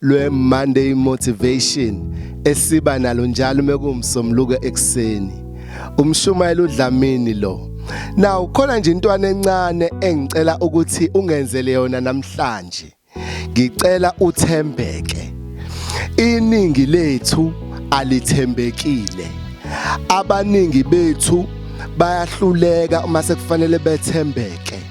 lwe Monday motivation esiba nalo njalo mekuwumsomluko ekseni umshumayeli uDlamini lo now khona nje intwana encane engicela ukuthi ungenzele yona namhlanje ngicela uthembeke iningi lethu alithembekile abaningi bethu bayahluleka uma sekufanele bethembeke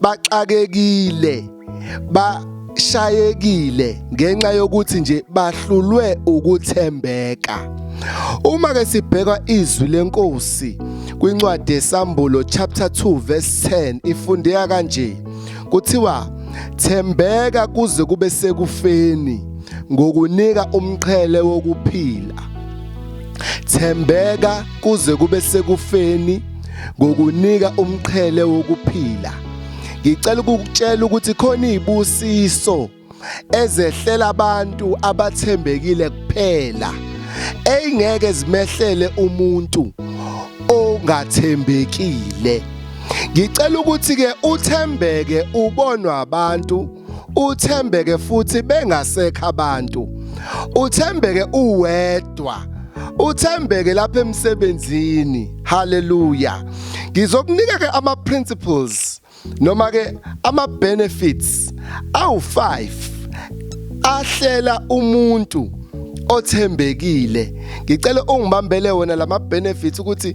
baxakekile ba shayekile ngenxa yokuthi nje bahlulwe ukuthembeka uma ke sibheka izwi lenkosi kwincwadi yesambulo chapter 2 verse 10 ifundeka kanje kuthiwa thembeka kuze kube sekufeni ngokunika umqhele wokuphila thembeka kuze kube sekufeni ngokunika umqhele wokuphila ngicela ukukutshela ukuthi khona izibusiso ezehlela abantu abathembekile kuphela eyingeke zimehlele umuntu ongathembekile ngicela ukuthi ke uthembeke ubonwa abantu uthembeke futhi bengasekho abantu uthembeke uwedwa uthembeke lapha emsebenzini haleluya ngizokunika ke ama principles noma ke ama benefits awu5 ahlela umuntu othembekile ngicela ungibambele wona lama benefits ukuthi